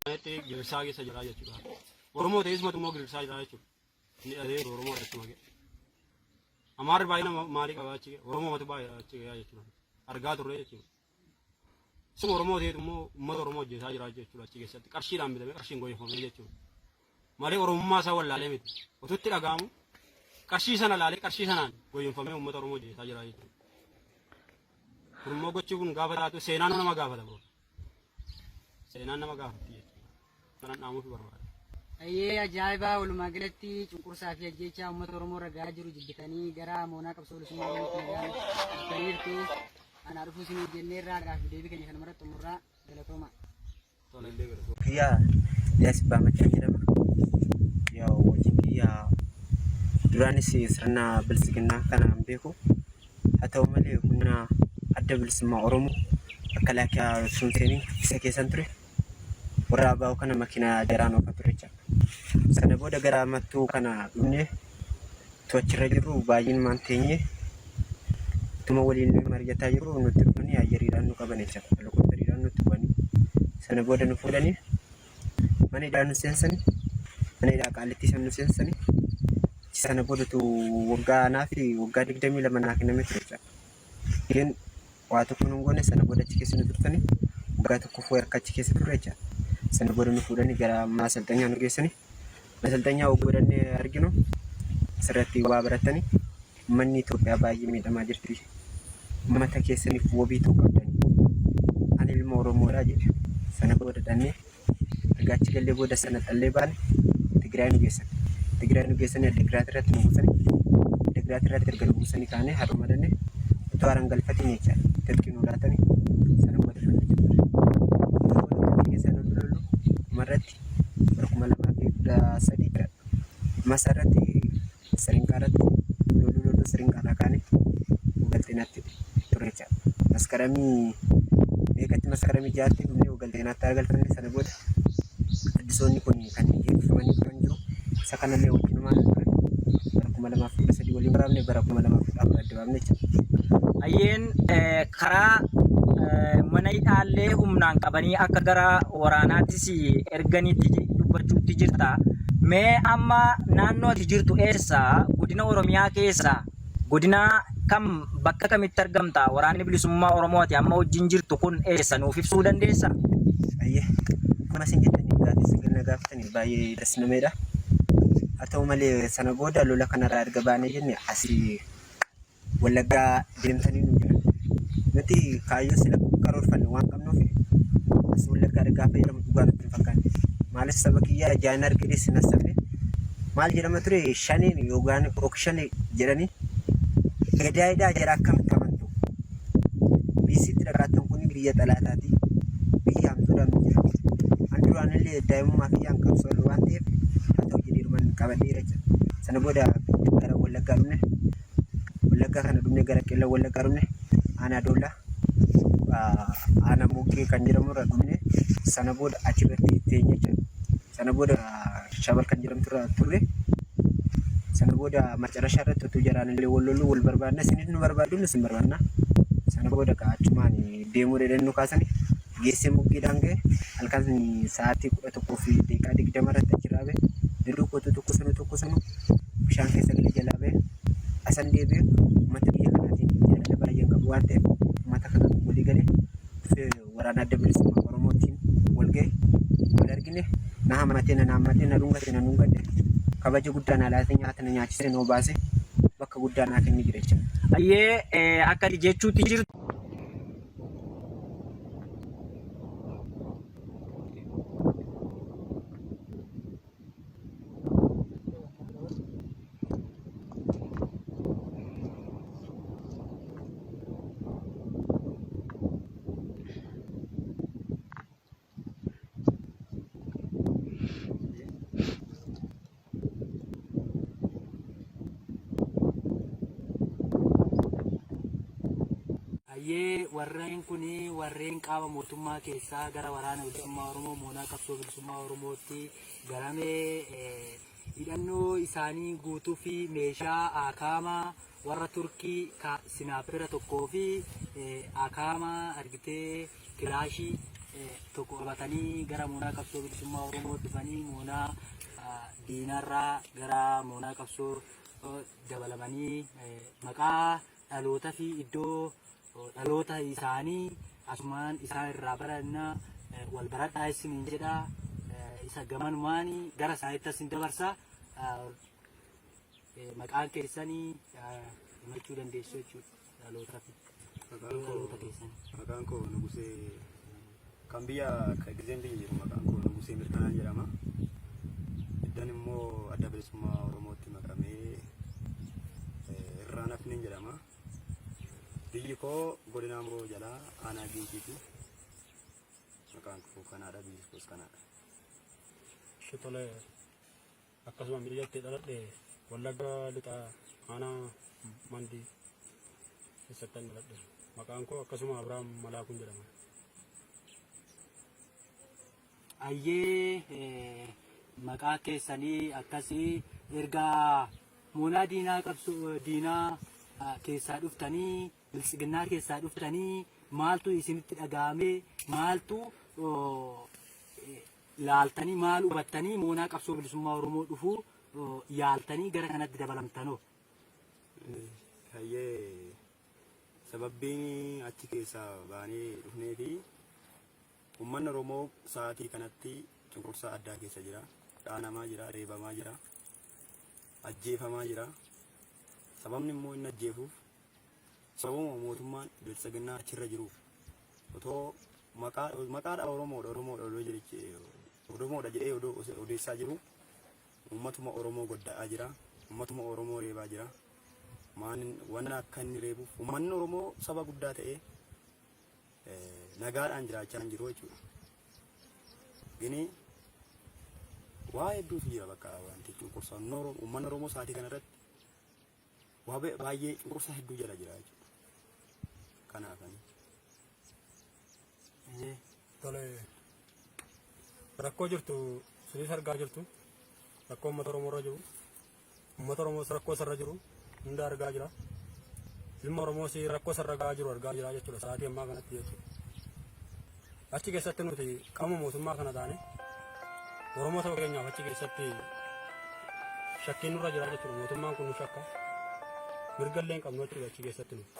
Itti gidirsaa keessa jira jechuudha. Oromoo ta'ee isumatu immoo gidirsaa jira jechuudha. Inni dhahee Oromoo dhachuma ga'e. Amaarri baay'ina ma- maalii qaba achi ga'e? Oromoo matu baay'eedha achi ga'e jechuudha. Argaa turre jechuudha. Isuma Oromoo ta'etu immoo uummata Oromoo hojjetaa jira jechuudha achi keessatti. Qarshiidhaan bitamee qarshiin gooyeffamee jechuudha. malee Oromummaa isaa wallaalee miti. Utuu itti dhaga'amu qarshii sana laalee qarshii sanaan goyyomfamee uummata Oromoo jeesaa jira jechuudha. Kun immoo gochi kun gaafa taatu seenaan nama gaafata bro. Seenaan nama gaafatti jechuudha. Kanan dhaamuuf barbaada. Ayyee ajaa'ibaa walumaa galatti cunqursaa fi ajjeechaa uummata Oromoo irra gahaa jiru jibbitanii gara moonaa qabsoo bilisummaa Oromootti nagaan dhuftaniirtu. Anaa dhufuu isin hojjennee irraa gaaffii deebii keenya kanuma irratti xumurraa galatooma. Kiyya Liyaas Abbaa Maccaa jedhama. Kiyya hojii kiyya duraanis sirna bilisiginnaa kana hin beeku. Haa ta'u malee humna adda bilisummaa Oromoo akka laakiyaa osoo hin seeniin isa keessan ture. Warra abaa'oo kana makiinaa jaraan oofaa ture jechaadha. Sana booda gara mattuu kana dhufnee tu achirra jirru baay'inmaan teenye tuma waliin mari'ataa jirru nutti dhufanii ayyariidhaan nu qaban jecha helikopteriidhaan nutti bu'anii sana booda nu fuudhanii mana hidhaa nu seensani mana hidhaa qaallittii sana nu seensani sana booda tu waggaa anaa fi waggaa digdamii lama naa kenname ture jecha Ijoolleen waa tokko nun goone sana booda achi keessa nu turtanii waggaa tokko fuu harka achi keessa turre jecha. Sana booda nu fuudhanii gara mana asalxanyaa nu geessanii mana asalxanyaa oguu godhannee arginu asirratti waa barattanii manni Itoophiyaa baay'ee miidhamaa jirti. Uummata keessaniif wabii ta'uu qabdanii. Ani ilma Oromoodhaa jedhe. Sana booda dhannee erga achi gallee booda sana xallee baane Tigraay nu geessan. Tigraay nu geessanii Addigiraat irratti nu buusanii Addigiraat irratti erga nu buusanii kaanee har'uma dhanne utuu haran galfatiin jecha tirkii nu laatanii sana booda lollu jennaan. Sana booda tirkii keessa lollu lollu dhumarratti bara kuma lamaa fi kudha sadii masaa irratti siringaa irratti loluu loluu siringaa irraa kaane galteenatti ture jechaadha. Maskaramii meeqatti maskaramii jaatti dhumee galteenatti argalfame sana booda addisoonni kun kan eebbifamanii turan jiru. Isa kanallee wajjinumaan turan bara kuma lamaaf kudha sadii waliin waraabne bara kuma lamaaf kudha afur adda Hayyeen karaa mana hidhaallee humnaan qabanii akka gara waraanaattis erganitti dubbachuutti jirta. Mee amma naannoo ati jirtu eessa? Godina Oromiyaa keessa godina kam bakka kamitti argamta? Waraanni bilisummaa Oromoo ati amma wajjin jirtu kun eessa nuuf ibsuu dandeessa? Ayyee akkuma isin jettaniif gaaffii isin kenna gaafataniif baay'ee das nameedha. Haa ta'u malee sana booda lola kanarraa erga baanee jenne asii Wallaggaa deemtanii nu jedhan. Nuti kaayyoo sila karoorfanne waan qabnuuf as Wallaggaa ergaa fayyadamu dhugaa nutti hin fakkaanne. Maalis saba kiyyaa ijaan hin argine sin hassabne. Maal jedhama ture shaniin yookaan ok shanii jedhanii gadaayidhaa jara akkamitti amantu? biisitti dhaqaattan kun biyya xalaataati biyya hamtuudhaan nu jira an duraanillee daa'imummaa fi an qabsoorra waan ta'eef haa ta'u jedhee dhuman qabadheera jira sana booda gara wallaggaa dhumne wallaggaa kana dhumne gara qilla wallaggaa dhumne aanaa doollaa aanaa moggee kan jedhamurra dhumne sana booda achi birratti teenye jechuudha. Sana booda Shabal kan jedhamtu irra turre. Sana booda macarashaa irratti utuu jaraan illee wal loluu wal barbaadna isinis nu barbaaddu nus hin barbaadna. Sana booda ka achumaan deemuu dheedhan nu kaasani geessee muggiidhaan ga'e halkan sa'aatii kudha tokkoo fi deeqaa digdama irratti achirraa ba'e. Duduu kootu tokko sunu tokko sunu bishaan keessa gadi jalaa ba'e. Asan deebi'e uummata biyya kanaatiin jaalala baay'een qabu waan ta'eef uummata kanaan walii galee waraana adda bilisummaa Oromootiin wal gahe wal argine na hamatee na naammatee na dhungate na dhungadhe kabaja guddaa na laatee nyaata na nyaachisee na obaase bakka guddaa naa kenne jira jechuudha. Ayyee akka jechuutti jirtu. Hayyee warreen kun warreen qaama mootummaa keessaa gara waraana bilisummaa Oromoo moonaa qabsoo bilisummaa bilisummaa Oromootti garamee hidhannoo isaanii guutuu fi meeshaa akaamaa warra Turkii ka sinaapira tokkoo fi akaamaa argitee kilaashii tokko qabatanii gara moonaa qabsoo bilisummaa Oromoo dhufanii moonaa diinarraa gara moonaa qabsoo dabalamanii maqaa dhalootaa fi iddoo dhaloota isaanii asumaan isaan irraa baranna eh, wal baradhaa isiniin jedha eh, isa gamanumaani gara isaanitti isin dabarsa ah, eh, maqaan keessanii ah, himachuu dandeessu jechuudha dhaloota fi Maqaan dhaloota koo keessanii. maqaan koo Nugusee kan biyya akka gizeen biyya jiru maqaan koo Nugusee Mirkanaa jedhama. Iddan immoo adda bilisummaa Oromootti makamee eh, irraa nafneen jedhama. Biyyi koo godina Amroo jalaa aanaa Giinciiti. Maqaan koo kanaadha, biyyi koos kanaadha. Shitole akkasuma biyyatti dhaladhe Wallagga lixaa aanaa Mandii keessatti kan dhaladhe. Maqaan koo akkasuma Abiraam Malaakuun jedhama. Ayyee maqaa keessanii akkasii erga moonaa diinaa qabsu diinaa keessaa dhuftanii biltsiginnaa keessaa dhuftanii maaltu isinitti dhaga'amee maaltu laaltanii maal hubattanii moonaa qabsoo bilisummaa Oromoo dhufuu yaaltanii gara kanatti dabalamtanoo. Hayyee sababbiin achi keessaa baanee dhufnee fi Ummanni Oromoo sa'aatii kanatti cunqursaa addaa keessa jira. Dhaanamaa jira, reebamaa jira, ajjeefamaa jira. Sababni immoo inni ajjeefuuf sababuma mootummaan biltsiginnaa achirra jiruuf otoo maqaa maqaadha Oromoodha Oromoodha odoo jedhe Oromoodha jedhee odoo odeessaa jiru uummatuma Oromoo godda'aa jira. Uummatuma Oromoo reebaa jira. Maan wanna akka inni reebuuf uummanni Oromoo saba guddaa ta'ee nagaadhaan jiraachaa hin jiru jechuudha. Gini waa hedduutu jira bakka wanti cunqursaa uummanni Oromoo sa'aatii kanarratti waa baay'ee cunqursaa hedduu jala jira jechuudha. Kanaafan. Tole rakkoo jirtu sinis argaa jirtu rakkoo uummata Oromoo irra jiru Uummata Oromoos rakkoo isarra jiru hunda argaa jira. Ilma Oromoos rakkoo isarra gahaa jiru argaa jira jechuudha sa'aatii ammaa kanatti jechuudha. Achi keessatti nuti qaama mootummaa kana taane Oromoo ta'uu keenyaaf achi keessatti shakkiin nurra jira jechuudha mootummaan kun nu shakka. Mirga illee hin qabnu jechuudha achi keessatti nuti.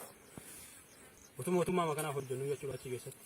Utuu mootummaa kanaaf hojjennu jechuudha achi keessatti.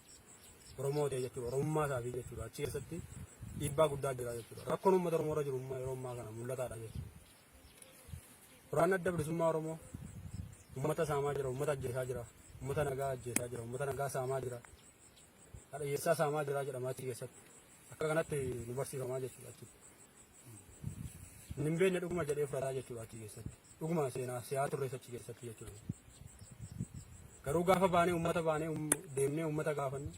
Oromoo ta'e jechuudha. Oromummaa isaatii jechuudha. Achi keessatti dhiibbaa guddaa jira jechuudha. Rakkoon uummata Oromoo irra jiru immoo yeroo ammaa kana mul'ataadha jechuudha. Waraanni adda bilisummaa Oromoo uummata saamaa jira, uummata ajjeesaa jira, uummata nagaa ajjeesaa jira, uummata nagaa saamaa jira, hadhayyeessaa saamaa jira jedhama achi keessatti. Akka kanatti nu barsiifamaa jechuudha achitti. Ani hin beekne dhuguma jedhee fudhataa jechuudha achi keessatti. Dhuguma seenaa siyaa turrees achi keessatti jechuudha. Garuu gaafa baanee uummata baanee um- deemnee uummata gaafannu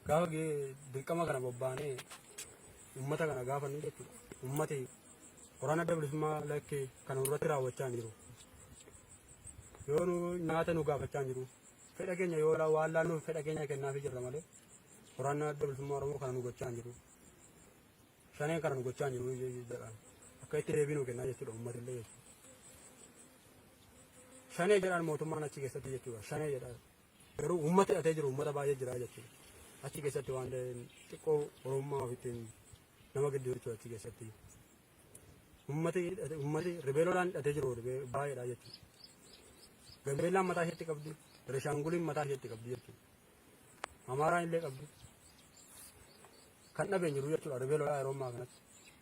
gaafa gee- dirqama kana bobbaanee uummata kana gaafannu jechuudha. Uummati waraana adda bilisummaa lakkee kan irratti raawwachaa hin jiru. Yoo nu nyaata nu gaafachaa hin jiru. Fedha keenya yoo la- waan laannuuf fedha keenya kennaafii jirra malee waraana adda bilisummaa Oromoo kana nu gochaa hin jiru. Shaneen kana nu gochaa hin jiru jedhaan. Akka itti deebii nu kennaa jechuudha uummatillee jechuudha. Shanee jedhaan mootummaan achi keessatti jechuudha. Shanee jedhaan. Garuu uummata hidhatee jiru uummata baay'ee jira jechuudha. Achi keessatti waan xiqqoo oromummaa ofitti nama gidduu jechuudha achi keessatti. Uummati uummati ribeeloodhaan hidhatee jiru baay'eedha jechuudha. Gambeellaan mataa isheetti qabdi. Rishaanguliin mataa isheetti qabdi jechuudha. Amaaraan illee qabdu. Kan dhabeen jiru jechuudha. Ribee lolaa yeroo ammaa kanatti.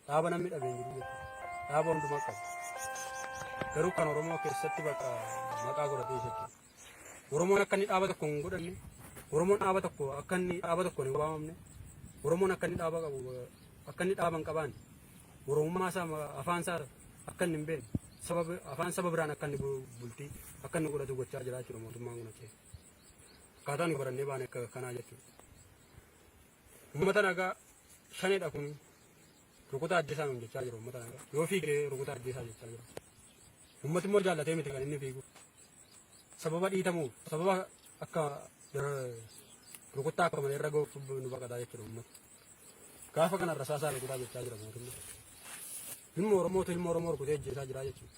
Dhaaba namni dhabeen jiru jechuudha. Dhaaba hundumaa qabu. Garuu kan Oromoo keessatti bakka maqaa godhatee jechuudha. Oromoon akka inni dhaaba tokko hin godhanne, Oromoon dhaaba tokko akka inni dhaaba tokko hin waamamne, Oromoon akka inni dhaaba qabu akka inni dhaaba hin qabaanne, Oromummaa isaa afaan isaa akka inni hin beekne, sababa afaan saba biraan akka inni bultii akka inni godhatu gochaa jira jechuudha mootummaan kun achi. Akkaataa nuyi barannee baane akka kanaa jechuudha. Uummata nagaa shaneedha kun rukutaa ajjeesaa nuun jechaa jiru uummata nagaa. Yoo fiigee rukutaa ajjeesaa jechaa jiru. Uummati immoo jaallatee miti kan inni fiigu. Sababa dhiitamuuf sababa akka rukuttaa akka malee irra ga'uuf nu baqataa jechuudha uummata. Gaafa kana rasaasaa rukutaa jechaa jira mootummaa. Ilma Oromootu ilma Oromoo rukutee ajjeesaa jira jechuudha.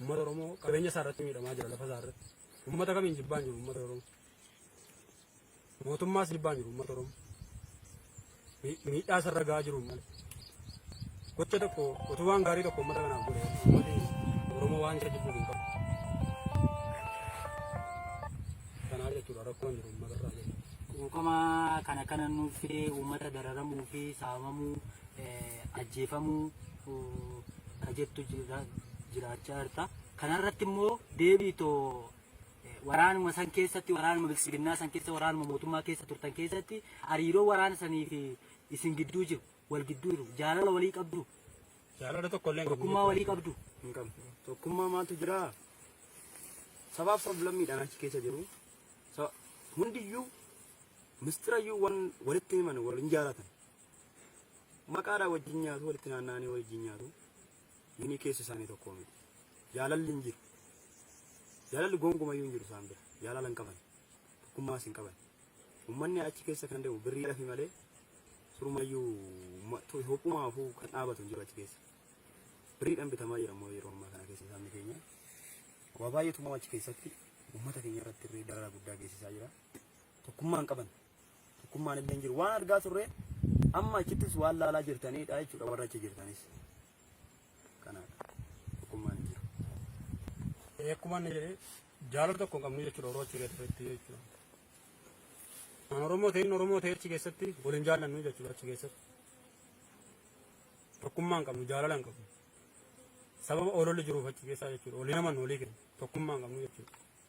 Uummata Oromoo qabeenya isaa irratti miidhamaa jira lafa isaa irratti. Uummata kamiin jibbaan jiru uummata Oromoo. Mootummaas jibbaan jiru uummata Oromoo. Mi- Miidhaa isarra gahaa jiru uummata. Gocha tokko utuu waan gaarii tokko uummata kanaaf godhe uummati Oromoo waan isa jibbuuf hin qabu. Kanaa jechuudha rakkoon jiru uummata irraa jechuudha. Quuqama kana kana nuuf fidee uummata dararamuu fi saamamuu ajjeefamuu ka jettu jiraachaa jirta. Kanarratti immoo deebii too waraanuma san keessatti waraanuma bilisiginnaa san keessa waraanuma mootummaa keessa turtan keessatti hariiroo waraana sanii fi isin gidduu jiru wal gidduu jiru jaalala walii qabdu jaalala tokko illee tokkummaa walii qabdu hin qabnu tokkummaa maaltu jira sabaaf sablammiidhaan achi keessa jiru hundiyyuu mistirayyuu wan walitti himan wal hin jaalatan Maqaadhaan wajjin nyaatu, walitti naanna'anii wajjin nyaatu. Minii keessi isaanii tokkoo miti. Jaalalli hin jiru. Jaalalli gonkumayyuu hin jiru isaan bira. Jaalala hin qaban. Tokkummaas hin qaban. Uummanni achi keessa kan deemu birrii dhafi malee surumayyuu hophumaafuu kan dhaabatu hin jiru achi keessa. Birriidhaan bitamaa jira immoo yeroo ammaa kana keessa isaanii keenya. Waa baay'eetu immoo achi keessatti uummata keenya irratti irree dararaa guddaa geessisaa jira. Tokkummaa hin qaban. Tokkummaan illee hin jiru. Waan argaa turre amma achittis waan laalaa jirtaniidha jechuudha warra achi jirtanis. Kanaadha. Tokkummaan hin jiru. Akkuma inni jedhe jaalala tokko hin qabnu jechuudha Oromoo achi keessatti jechuudha. Kan Oromoo ta'in Oromoo ta'e achi keessatti waliin jaallannu jechuudha achi keessatti. Tokkummaa hin qabnu jaalala hin qabnu. Sababa ololli jiruuf achi keessaa jechuudha. Olii naman olii kenna. Tokkummaa hin qabnu jechuudha.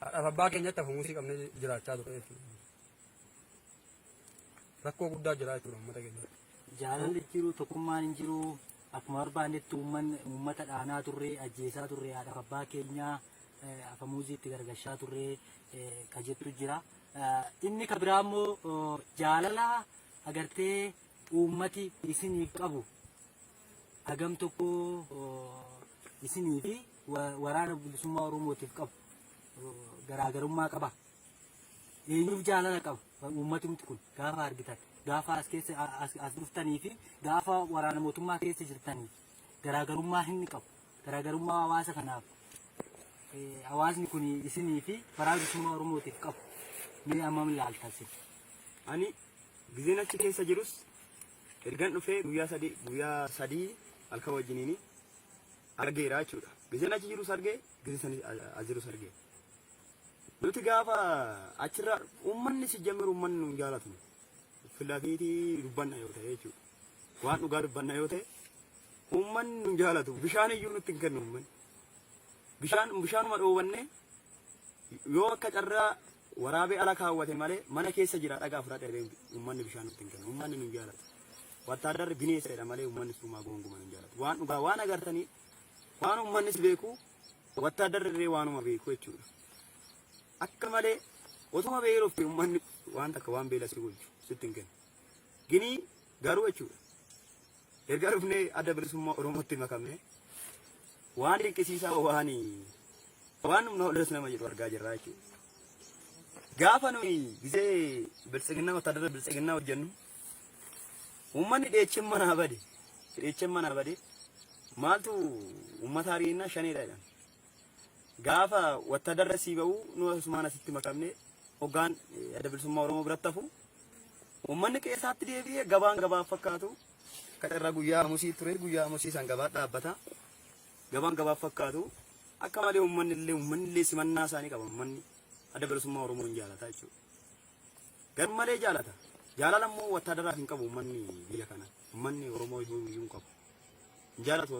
Haadhaaf abbaa keenyatti hafumusii qabnee jiraachaa ture jechuudha. Rakkoo guddaa jira jechuudha uummata keenya. Jaalalli hin jiru, tokkummaan hin jiru. Akkuma barbaannetti uummanni uummata dhaanaa turre, ajjeesaa turre, haadhaaf abbaa keenyaa eh, afamuuzii itti gargashaa turre eh, ka jettu jira. Eh, Inni ka biraa immoo oh, jaalala agartee uummati isiniif qabu hagam tokko isinii fi waraana bilisummaa Oromootiif qabu garaagarummaa qaba. Eenyuuf jaalala qaba uummatumti kun gaafa argitan gaafa as keessa as dhuftanii fi gaafa waraana mootummaa keessa jirtanii garaagarummaa hin qabu. Garaagarummaa hawaasa kanaaf hawaasni kun isinii fi waraana bilisummaa Oromootiif qabu mee ammam ilaaltan sin. Ani gizeen achi keessa jirus Ergan dhufee guyyaa sadii guyyaa sadii halkan wajjiniini argeera jechuudha. Gizeen achi jirus argee, gizee sani as jirus argee. Nuti gaafa achirraa uummanni si jammiru uummanni nu hin jaalatu. Filafiitii dubbanna yoo ta'e jechuudha. Waan dhugaa dubbanna yoo ta'e uummanni nu hin jaalatu. Bishaan iyyuu nutti hin kennu uummanni. Bishaan bishaanuma dhoowwannee Yoo akka carraa waraabee ala kaawwate malee mana keessa jira dhagaa fudhadhe jedhee uummanni bishaan nutti hin kennu. Uummanni nun jaalatu. Wattaaddarri bineessa jedha malee uummanni suumaa goonguma nun jaalatu. Waan dhugaa waan agartanii waan uummannis beeku wattaaddarri illee waanuma beeku jechuudha. Akka malee otuma beelofte uummanni waan takka waan beela si gochu sitti hin kennu. Ginii garuu jechuudha. Erga dhufnee adda bilisummaa Oromootti makamne Waan dinqisiisaa waan waan humna ollees nama jedhu argaa jirra jechuudha. Gaafa nuyi gisee biltsiginnaa wattaadara biltsiginnaa hojjennu uummanni dheechen manaa bade dheechen manaa bade maaltu uummata ariinnaa shaneedha jedhan. Gaafa wattaadara sii ba'u nu asumaan asitti makamne hoggaan adda bilisummaa Oromoo biratti hafu uummanni qe'eesaatti deebi'ee gabaan gabaaf fakkaatu Akka carraa guyyaa Hamusii ture guyyaa Hamusii san gabaa dhaabbata. Gabaan gabaaf fakkaatu akka malee uummanni illee uummanni illee simannaa isaanii qaba uummanni adda bilisummaa Oromoo hin jaalata jechuudha. Gar malee jaalata. Jaalala immoo wattaadaraaf hin qabu uummanni biyya kana. Uummanni Oromoo iyyuu iyyuu hin qabu. Hin jaalatu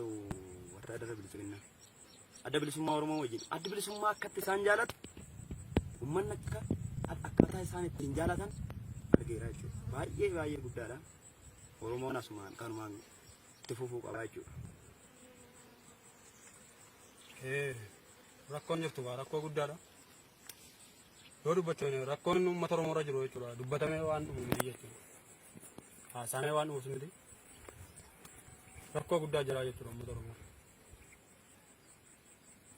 wattaadara bilisiginnaa. Adda bilisummaa Oromoo wajjin. Adda bilisummaa akkatti isaan jaalatu uummanni akka akkaataa isaan ittiin jaalatan argeera jechuudha. Baay'ee baay'ee guddaadha. Oromoon asumaan kanumaan itti fufuu qabaa jechuudha. Rakkoon jirtu gaa rakkoo guddaadha. Yoo dubbatte rakkoon uummata Oromoo irra jiru jechuudha. Dubbatamee waan dhumu miti jechuudha. Haasaamee waan dhumuus miti. Rakkoo guddaa jira jechuudha uummata Oromoo.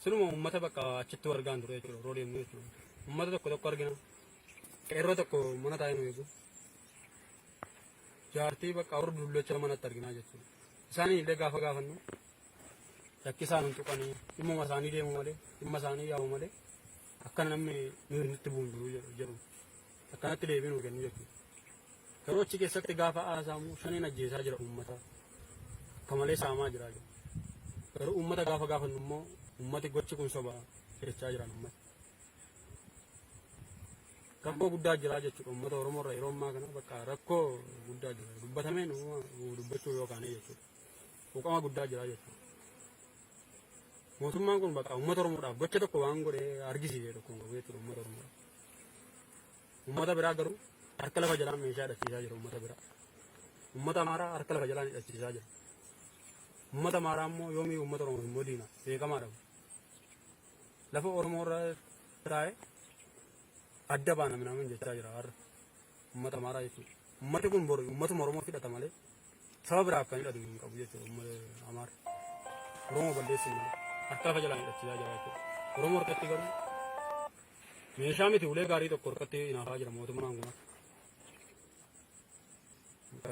Sinuma uummata bakka achitti wargaan ture jechuudha yeroo deemnu jechuudha. Uummata tokko tokko argina. Qeerroo tokko mana taa'ee nu eegu. jaartii bakka warra dullacha manatti arginaa jechuudha. Isaanii illee gaafa gaafannu rakkisaan hin tuqanii dhimmuma isaanii deemu malee dhimma isaanii yaa'u malee akka namni nuyi nutti bu'u hin jiru jedhu- jedhu akkanatti deebii nuu kennu jechuudha. Garuu achi keessatti gaafa haasaamu shaniin ajjeesaa jira uummata akka malee saamaa jira jedhu. Garuu uummata gaafa gaafannu immoo uummati gochi kun soba jechaa jiran uummata. rakkoo guddaa jira jechuudha uummata Oromoo irra yeroo ammaa kana bakka rakkoo guddaa jira dubbatameen dubbachuu yoo kaane jechuudha quuqama guddaa jira jechuudha. Mootummaan kun bakka uummata Oromoodhaaf gocha tokko waan godhe argisiise tokko hin qabu jechuudha uummata Oromoodhaaf. Uummata biraa garuu harka lafa jalaan meeshaa hidhachiisaa jira uummata biraa. Uummata Amaaraa harka lafa jalaan hidhachiisaa jira. Uummata Amaaraa immoo yoomii uummata Oromoo immoo diina beekamaadha. lafa Oromoo irra taa'e adda baana minaamin jechaa jira har'a uummata Amaaraa jechuudha. Uummati kun bor uummatuma Oromoo hidhata malee saba biraaf kan hidhatu hin qabu jechuudha uummata Amaara. Oromoo balleessin malee harka lafa jalaan hidhachiisaa jira jechuudha. Oromoo harkatti garuu meeshaa miti ulee gaarii tokko harkatti hinaafaa jira mootummaan kun.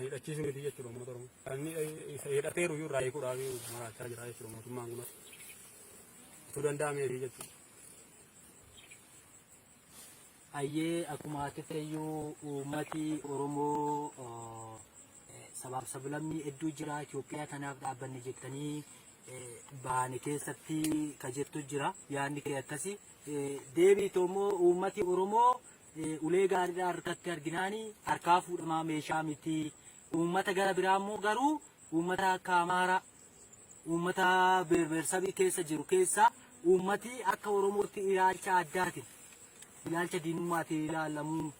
hidhachiisuu miti jechuudha uummata Oromoo. Kan hidhateeru iyyuu irraa hiikuudhaaf maraachaa jira jechuudha mootummaan kunis. Utuu danda'ameefi jechuudha. Ayyee akkuma akeekayyuu uummati Oromoo sabaaf sablammii hedduu jira Itoophiyaa tanaaf dhaabbanne jettanii baane keessatti ka jettu jira yaadni kee akkasi. Deebiitu immoo uummati Oromoo eh, ulee gaariidhaa harkatti arginaani harkaa fuudhamaa meeshaa miti. Uummata gara biraa immoo garuu uummata akka Amaaraa uummata beerbeersabii keessa jiru keessaa uummati akka Oromootti ilaalcha addaatiin ilaalcha diinummaatiin ilaalamuun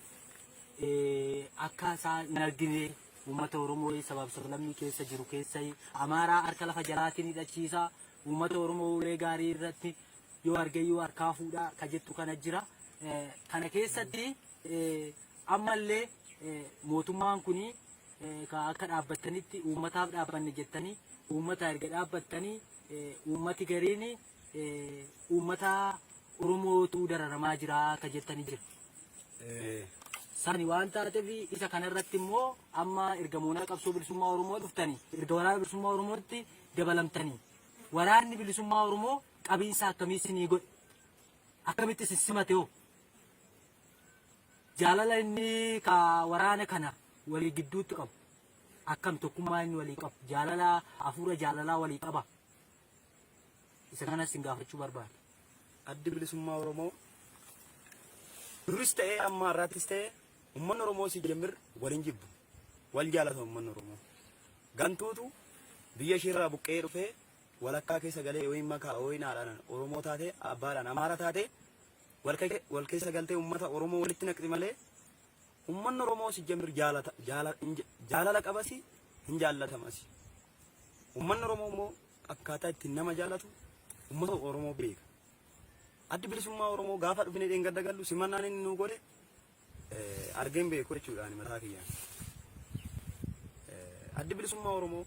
eh, akka isaa hin argine uummata Oromoo sabaaf sablammii keessa jiru keessa Amaaraa harka lafa jalaatiin hidhachiisa uummata Oromoo ulee gaarii irratti yoo argeyyuu harkaa fuudha ka jettu kana jira. Kana keessatti ammallee mootummaan kun akka dhaabbattanitti uummataaf dhaabbanne jettanii uummata erga dhaabbattanii uummati gariin uummata Oromootu dararamaa jira akka jettanii jira. Sani waan taateef isa kanarratti immoo amma erga moonaa qabsoo bilisummaa Oromoo dhuftanii erga waraana bilisummaa Oromootti dabalamtanii waraanni bilisummaa Oromoo qabiinsa akkamii isinii godhe? Akkamitti isin simate hoo? Jaalala inni ka waraana kana walii gidduutti qabu akkam tokkummaa inni walii qabu jaalala hafuura jaalalaa walii qaba. Isa kanas isin gaafachuu barbaada. Addi bilisummaa Oromoo duris ta'ee amma har'aattis ta'ee uummanni Oromoo si jemmir waliin jibbu. Wal jaalata uummanni Oromoo. Gantuutu biyya isheerraa buqqee dhufee walakkaa keessa galee yookiin makaa yookiin haadhaan Oromoo taate abbaadhaan Amaara taate wal keessa galtee uummata Oromoo walitti naqxi malee uummanni Oromoo si jamir jaalata jaalala qabasi hin jaallatamasi. Uummanni Oromoo immoo akkaataa ittiin nama jaallatu uummata Oromoo beeka. Addi bilisummaa Oromoo gaafa dhufnee dheengadda gallu simannaan inni nuu godhe eh, argeen beeku jechuudha ani mataa kiyyaan. Eh, Addi bilisummaa Oromoo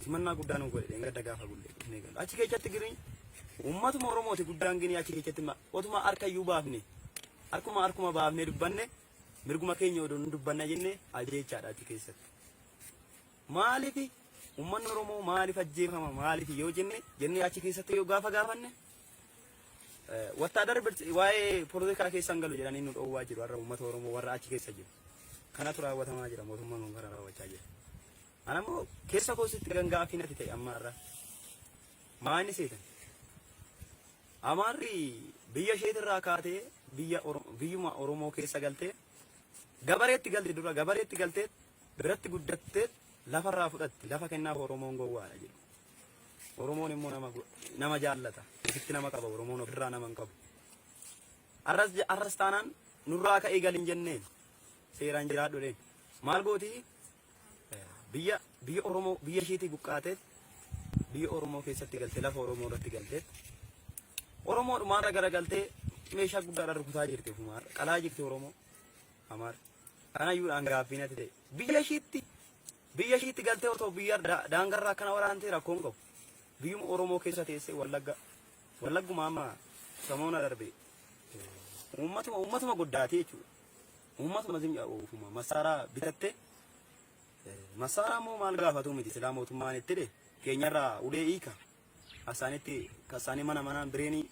simannaa guddaa nu godhe gadda gaafa gulle dhufnee galu. Achi keessatti giriin uummatuma Oromooti guddaan gini achi keessatti ma- otuma harka iyyuu baafne harkuma harkuma baafne dubbanne mirguma keenya odoo nu dubbanna jenne ajjeechaadha achi keessatti. Maaliif ummanni Oromoo maaliif ajjeefama maaliif yoo jenne jennee achi keessatti yoo gaafa gaafanne wattaadarri bilch- waa'ee poolitikaa keessa hin galu jedhanii nu dhoowwaa jiru har'a uummata Oromoo warra achi keessa jiru. Kanatu raawwatamaa jira mootummaan kun kana raawwachaa jira. Ana immoo keessa koositti kan gaafii natti ta'e amma har'a. Maa inni seetan? Amaarri biyya isheetirraa kaatee biyya Oro- biyyuma Oromoo keessa galtee gabareetti galte dura gabareetti galtee biratti guddatteef lafarraa fudhatti lafa kennaaf Oromoon gowwaadha jedhu. Oromoon immoo nama go- nama jaallata. Ofitti nama qaba Oromoon ofirraa nama hin qabu. Arras je- arras taanaan nurraa ka'ee gal hin jenneen seeraan jiraadhu dheen. Maal gootii Eh, biyya biyya Oromoo biyya isheetii buqqaateet biyya Oromoo keessatti galtee lafa Oromoo irratti galteet Oromoo dhumaarra gara galtee meeshaa guddaadhaan rukutaa jirti ofumaarra qalaa jirti Oromoo amaarra. Kanayyuudhaan gaaffii natti ta'e. Biyya ishiitti biyya ishiitti galtee otoo biyya da- daangarra akkana waraantee rakkoon qabu. Biyyuma Oromoo keessa teessee Wallagga Wallagguma amma samoona darbe uummatuma uummatuma goddaatee jechuudha. Uummatuma zim uufuma masaaraa bitattee masaaraa immoo maal gaafatu miti silaa mootummaan itti dhe keenyarraa ulee hiika Kasaanitti kasaanii mana manaan bireenii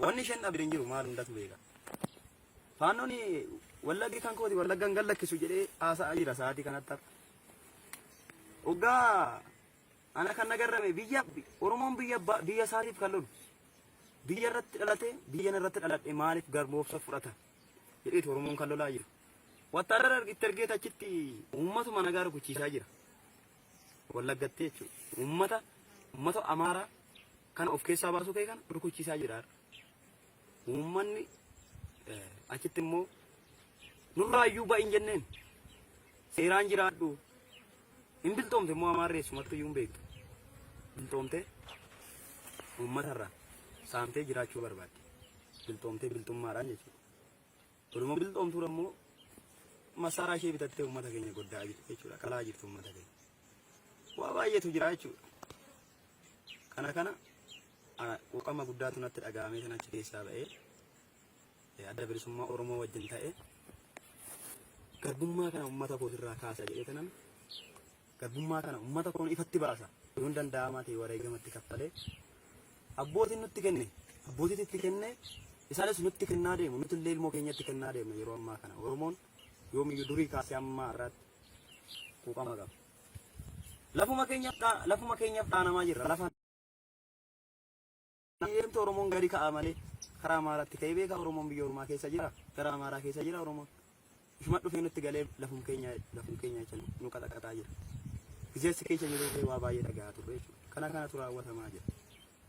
wanni isheen dhabde hin jiru maal hundatu beeka. Faannoon wallaggi kan kooti wallaggan gan lakkisu jedhee haasa'aa jira sa'aatii kanatti har'a. Oggaa ana kan nagarrame biyya Oromoon biyya abbaa- biyya isaatiif kan lolu biyya irratti dhalate biyya irratti dhaladhe maaliif garboomsa fudhata jedheeti Oromoon kan lolaa jiru. Wattaadara itti ergeet achitti uummatuma nagaa rukuchiisaa jira. Wallaggatti jechuudha. Uummata uummata Amaaraa kana of keessaa baasuu kee kana rukuchiisaa jira. Uummanni achitti immoo nurraa iyyuu ba'iin jenneen seeraan jiraadhu. Hin biltoomte immoo Amaarri eessumattuu iyyuu hin beektu. Biltoomte uummatarraa saamtee jiraachuu barbaadde. Biltoomtee biltummaadhaan jechuudha. Kunimmoo bilxoomtuun ammoo masaaraa ishee bitattee uummata keenya goddaa jirti jechuudha. Qalaa jirti uummata keenya. Waa baay'eetu jira jechuudha. Kana kana quuqama guddaatu natti dhaga'amee sana achi keessaa ba'ee adda bilisummaa Oromoo wajjin ta'ee garbummaa kana uummata kootirraa kaasa jedhee tanan Garbummaa kana ummata koon ifatti baasa, yoon danda'amaa ta'e wareegama itti kaffalee, abbootiin nutti kenne, abbootiitu itti kenne, isaanis nutti kennaa deemu, nuti illee ilmoo keenyatti kennaa deemna yeroo ammaa kana. Oromoon yoomiyyuu durii kaasee amma har'aatti quuqama qaba. Lafuma keenyaf dha, lafuma keenyaf dhaanamaa jirra. Lafa Eeyyamtu Oromoon gadi ka'a malee karaa Amaaraatti ka'ee beeka Oromoon biyya Oromaa keessa jira gara Amaaraa keessa jira Oromoon ishuma dhufee nutti galee lafum keenya lafum keenya jecha nu qaxaqaxaa jira bizeessi keessa jirullee waa baay'ee dhagahaa turre jechuudha kana kanatu raawwatamaa jira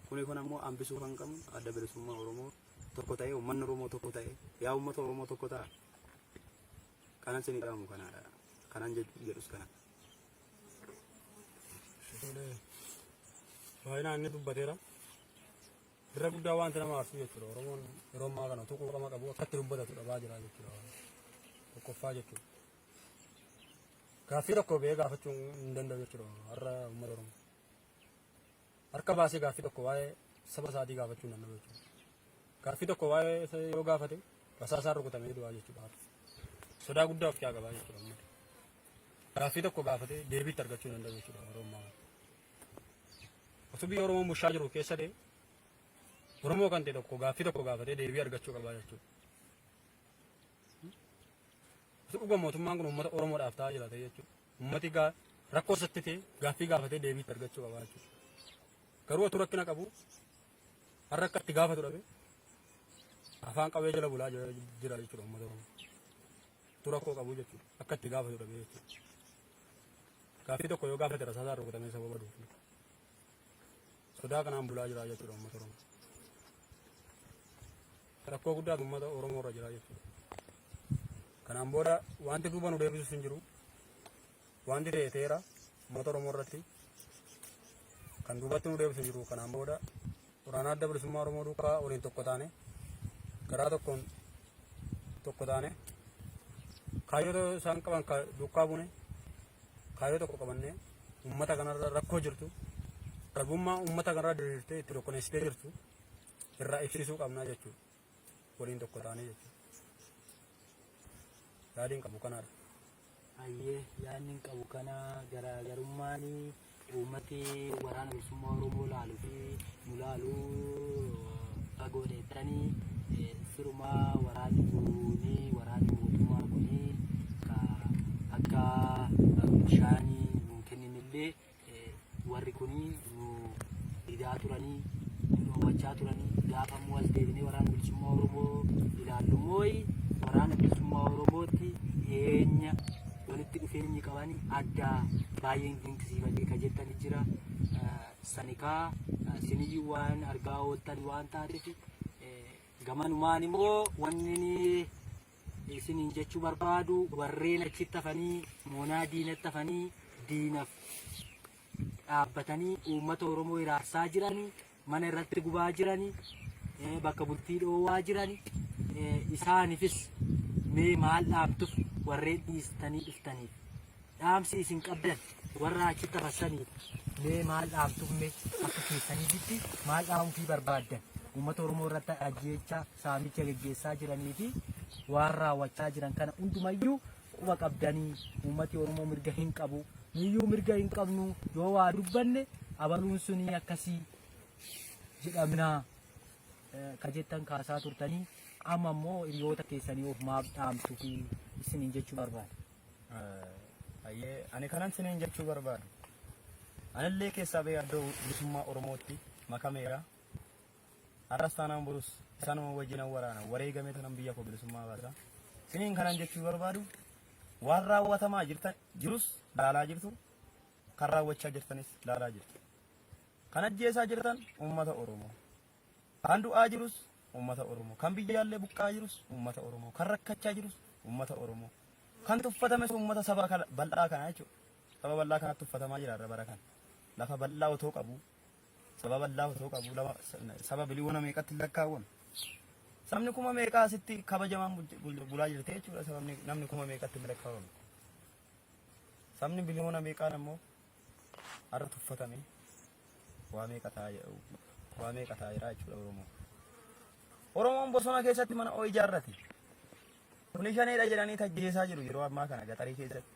kuni kun ammoo hambisuu kan qabnu adda bilisummaa Oromoo tokko ta'ee uummanni Oromoo tokko ta'ee yaa uummata Oromoo tokko ta'a kanan sinii dhaamu kanaadha kanan jedhus kana. baay'inaan inni dubbateera. Irra guddaa wanti nama aarsu jechuudha. Oromoon yeroo ammaa kana utuu quuqama qabu akkatti dubbatatu dhabaa jira jechuudha. Tokkoffaa jechuudha. Gaaffii tokko ba'ee gaafachuu hin danda'u jechuudha. Har'a uummata Oromoo. harka baasee gaaffii tokko waa'ee saba isaatii gaafachuu danda'u jechuudha. Gaaffii tokko waa'ee isa yoo gaafate rasaasaan rukutamee du'aa jechuudha. Sodaa guddaa of qaba jechuudha uummata. Gaaffii tokko gaafatee deebii itti argachuu danda'u jechuudha Oromoo. Osoo biyya Oromoo bushaa jiru keessa ta'e Oromoo kan ta'e tokko gaaffii tokko gaafatee deebii argachuu qaba jechuudha. Osoo dhuga mootummaan kun uummata Oromoodhaaf ta'aa jira ta'e jechuudha. Uummati gaa rakkoo isatti ta'e gaaffii gaafatee deebii itti argachuu qaba jechuudha. Garuu otuu rakkina qabu har'a akka itti gaafatu dhabe afaan qabee jala bulaa jira jira jechuudha uummata Oromoo. Otuu rakkoo qabu jechuudha akka itti gaafatu dhabe jechuudha. Gaaffii tokko yoo gaafate rasaasaan rukutamee sababa duufu. Sodaa kanaan bulaa jira jechuudha uummata Oromoo. Rakkoo guddaa uummata Oromoo irra jira jechuudha. Kanaan booda wanti duuba nu deebisus hin jiru. Wanti ta'e ta'eera uummata Oromoo irratti kan duubatti nu deebisu hin jiru. Kanaan booda Waraana Adda Bilisummaa Oromoo duukaa waliin tokko taane garaa tokkoon tokko taane kaayyoo isaan qaban duukaa buune kaayyoo tokko qabannee uummata kanarra rakkoo jirtu garbummaa uummata kanarra diriirtee itti tokkoneessitee jirtu irraa ibsisuu qabnaa jechuudha. waliin tokko taanee jechuudha. Yaadiin qabu kanaadha. Hayyee yaadni qabu kana garaagarummaan uummati waraana bilisummaa Oromoo laaluu fi nu laaluu fagoo dheettanii sirumaa waraanni kuuni waraanni mootummaa kuni akka bishaanii nu kenninillee warri kuni nu didaa turanii nu dhoowwachaa turanii gaafa immoo as deebinee waraana bilisummaa Oromoo ilaallu mooyi waraana bilisummaa Oromootti dhiyeenya walitti dhufeenyi qabani adda baay'een dinqisiifadhee ka jettani jira. Eh, Sanikaa eh, siniyyuu waan argaa ooltan waan taateef eh, gamanumaan immoo wanni ni isiniin jechuu barbaadu warreen achitti hafanii moonaa diinatti hafanii diinaf dhaabbatanii uummata Oromoo hiraarsaa jirani mana irratti gubaa jirani eh, bakka bultii dhoowwaa jirani eh, isaanifis mee maal dhaamtuf warreen dhiistanii dhuftaniif dhaamsi isin qabdan warra achitti hafassaniif mee maal dhaamtumme akka keessaniifitti maal dhaamufii barbaaddan uummata Oromoo irratti ajjeechaa saamicha geggeessaa jiranii fi waan raawwachaa jiran kana hundumayyuu quba qabdanii uummati Oromoo mirga hin qabu nuyyuu mirga hin qabnu yoo waa dubbanne abaluun sunii akkasii jedhamnaa eh, ka jettan kaasaa turtanii amma immoo hiriyoota keessanii of maaf dhaamtu fi isiniin jechuu barbaada. Ayyee ani kanan siniin jechuu barbaadu anillee keessaa bee addoo bilisummaa Oromootti makameera har'as taanaan borus isaanuma wajjin an waraana wareegamee tanan biyya koo bilisummaa baasa siniin kanan jechuu barbaadu waan raawwatamaa jirtan jirus laalaa jirtu kan raawwachaa jirtanis laalaa jirtu kan ajjeesaa jirtan uummata Oromoo Kan du'aa jirus ummata Oromoo. Kan biyyaallee buqqa'aa jirus ummata Oromoo. Kan rakkachaa jirus ummata Oromoo. Kan tuffatames ummata saba kana- bal'aa kanaa jechuudha. Saba bal'aa kanatti tuffatamaa jira irra bara kana. Lafa bal'aa otoo qabu, saba bal'aa otoo qabu, lama- saba biliyoona meeqatti hin lakkaawwamu. Sabni kuma meeqaa asitti kabajamaan bul- bul- bulaa jirti jechuudha. Sabni namni kuma meeqatti hin lakkaawwamu. Sabni biliyoona meeqaan ammoo Har'a tuffatame waa meeqa ta'aa jira waa meeqa ta'aa jira jechuudha Oromoo. Oromoon bosona keessatti mana oo ijaarrate. Kuni shaneedha jedhanii tajjeesaa jiru yeroo ammaa kana gaxarii keessatti.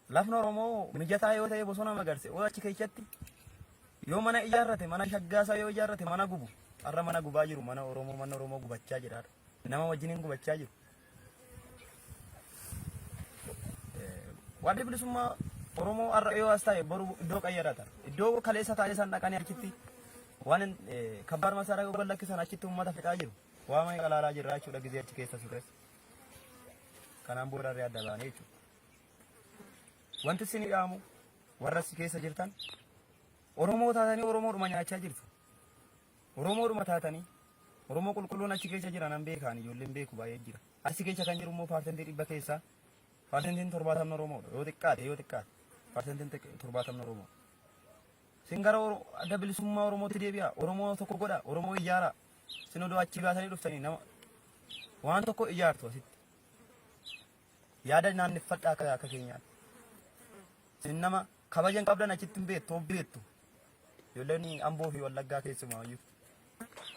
Lafni Oromoo mijataa yoo ta'e bosona magarse oo achi keessatti yoo mana ijaarrate mana shaggaasaa yoo ijaarrate mana gubu har'a mana gubaa jiru mana Oromoo mana Oromoo gubachaa jira. Nama wajjin hin gubachaa jiru. Waaddi bilisummaa Oromoo har'a yoo as taa'e boru iddoo qayyarata. Iddoo kaleessa taa'ee san dhaqanii achitti waan kabbaar masaraa yoo gallakkisan achitti uummata fixaa jiru. Waa mana qalaalaa jirra jechuudha gizee achi keessa ture. Kanaan booda irraa adda baanee jechuudha. Wanti isin dhaamu warra si keessa jirtan Oromoo taatanii Oromoodhuma nyaachaa jirtu. Oromoodhuma taatanii Oromoo qulqulluun achi keessa jira nan beeka ani ijoolleen beeku baay'ee jira. Achi keessa kan jiru immoo paarsentii dhibba keessaa paarsentiin torbaatamni Oromoodha yoo xiqqaate yoo xiqqaate paarsentiin torbaatamni Oromoodha. Sin gara adda bilisummaa Oromootti deebi'a Oromoo tokko godha Oromoo ijaara sin odoo achi baatanii dhuftanii nama waan tokko ijaartu asitti. Yaada naanneffadha akka akka keenyaatti. Isin nama kabaja hin qabdan achitti hin beektu of beektu. Ijoolleen amboo fi wallaggaa keessumaa iyyuu.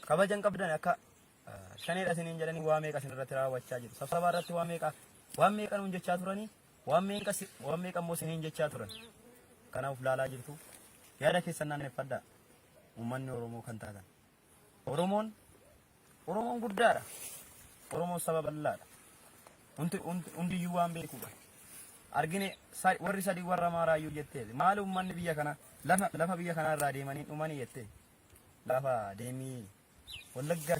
Kabaja hin qabdan akka eh, shaneedha isiniin jedhanii waa meeqa isin irratti raawwachaa jiru. Sabsabaa irratti waa meeqa waan meeqa nuun jechaa turanii waan meeqa si- waan meeqa immoo isiniin jechaa turan. Kanaaf laalaa jirtu. Yaada keessan naanneffadha. Uummanni Oromoo kan taatan. Oromoon Oromoon guddaadha. Oromoon saba bal'aadha. Hundi hundi- hundiyyuu waan beekuudha. Argine sa- warri sadii warra maaraayyuu jettee maali uummanni biyya kana lafa lafa biyya kanaa irraa deemanii dhumanii jettee lafa deemii wallaggaa